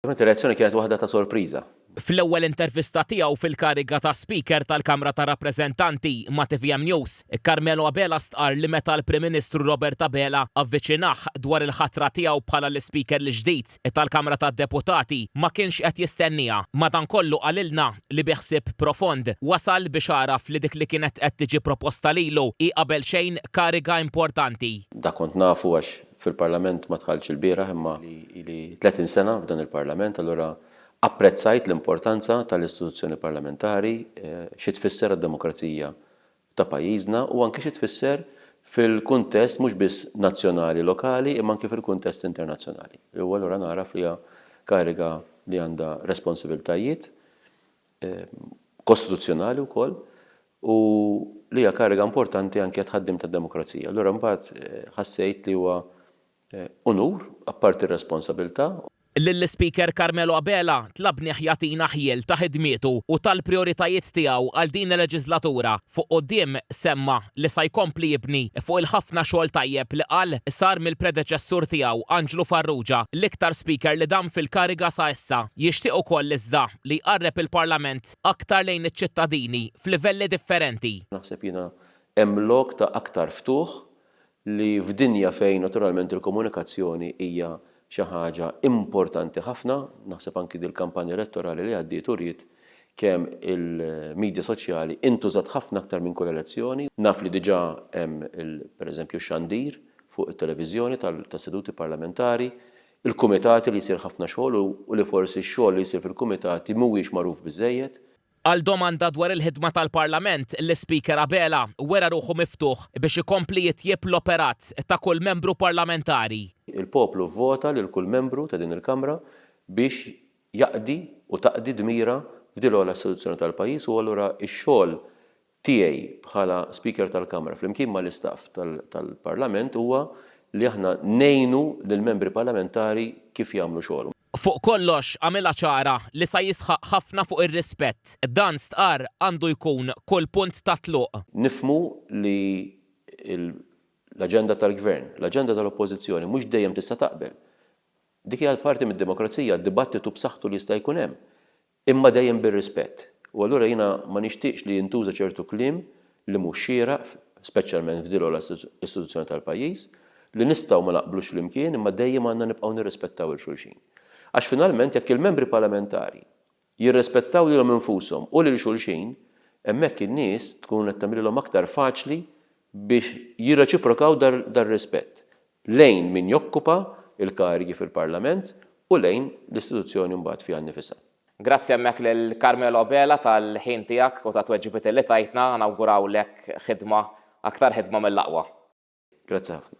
Ovvjament ir-reazzjoni kienet waħda ta' sorpriża. Fl-ewwel intervista tiegħu fil-kariga ta' Speaker tal-Kamra tar-Rappreżentanti ma' tvm News, Carmelo Abela stqarr li meta l-Prim Ministru Robert Abela avviċinah dwar il-ħatra tiegħu bħala l-Ispeaker l-ġdid tal-Kamra tad-Deputati ma kienx qed jistennieha. Madankollu qalilna li bi ħsieb profond wasal biex għaraf li dik li kienet qed tiġi proposta lilu hi qabel xejn kariga importanti. Dak kont nafu għax fil-Parlament ma dħaltx ilbieraħ imma ili 30 sena f'dan il-Parlament, allura apprezzajt l-importanza tal-istituzzjoni parlamentari, xi tfisser għad-demokrazija ta' pajjiżna u anki xi tfisser fil-kuntest mhux biss nazzjonali lokali imma anki fil-kuntest internazzjonali. U allura nagħraf li hija kariga li għandha responsibiltajiet kostituzzjonali wkoll u li hija kariga importanti anke għat-tħaddim tad-demokrazija. Allura mbagħad ħassejt li huwa unur, apparti r-responsabilità. Lill-Ispeaker Carmelo Abela tlabnih jagħtina ħjiel ta' ħidmietu u tal-prijoritajiet tiegħu għal din il-leġislatura. Fuq quddiem semma li sa jkompli jibni fuq il-ħafna xogħol tajjeb li qal sar mill-predeċessur tiegħu Anġlu Farrugia, l-iktar Speaker li dam fil-kariga sa issa. Jixtieq ukoll iżda li jqarreb il-Parlament aktar lejn iċ-ċittadini f'livelli differenti. Naħseb jiena hemm lok ta' aktar ftuħ li f'dinja fejn naturalment il-komunikazzjoni hija xi ħaġa importanti ħafna, naħseb anki dil-kampanja elettorali li għaddiet uriet kemm il-midja soċjali intużat ħafna aktar minn kull elezzjoni. Naf li diġà hemm pereżempju x-xandir fuq it-televiżjoni tas-seduti parlamentari, il-kumitati li jsir ħafna xogħol u li forsi x-xogħol li jsir fil-kumitati mhuwiex magħruf biżżejjed. Għal domanda dwar il-ħidma tal-Parlament, l-Ispeaker Abela wera ruħu miftuħ biex ikompli jitjieb l-operat ta' kull membru parlamentari. Il-poplu vvota lil kull membru ta' din il-Kamra biex jaqdi u taqdi dmirha f'din l-ogħla istituzzjoni tal-pajjiż u allura x-xogħol tiegħi bħala Speaker tal-Kamra flimkien mal-istaff tal-Parlament huwa li aħna ngħinu lill-Membri Parlamentari kif jagħmlu xogħolhom. Fuq kollox, għamilha ċara li sa jisħaq ħafna fuq ir-rispett. Dan stqarr għandu jkun kull punt ta' tluq. Nifhmu li l-aġenda tal-Gvern, l-aġenda tal-Oppożizzjoni mhux dejjem tista' taqbel. Dik hija parti mid-demokrazija, dibattitu b'saħħtu li jista' jkun hemm. Imma dejjem bir-rispett. U allura jiena ma nixtieqx li jintuża ċertu kliem li mhux xieraq, speċjalment f'din l-ogħla istituzzjoni tal-pajjiż, li nistgħu ma naqblux flimkien imma dejjem għandna nibqgħu nirrispettaw 'il xulxin. Għax finalment jekk il-membri parlamentari jirrispettaw lilhom infushom u lil xulxin, hemmhekk in-nies tkun qed tagħmililhom aktar faċli biex jirreċiprokaw dar-rispett. lejn min jokkupa l-karigi fil-Parlament u lejn l-istituzzjoni mbagħad fiha nnifisha. Grazzi hemmhekk lil Carmelo Abela tal-ħin tiegħek u tat-tweġibiet li tajtna, nawgurawlek ħidma, aktar ħidma mill-aqwa. Grazzi ħafna.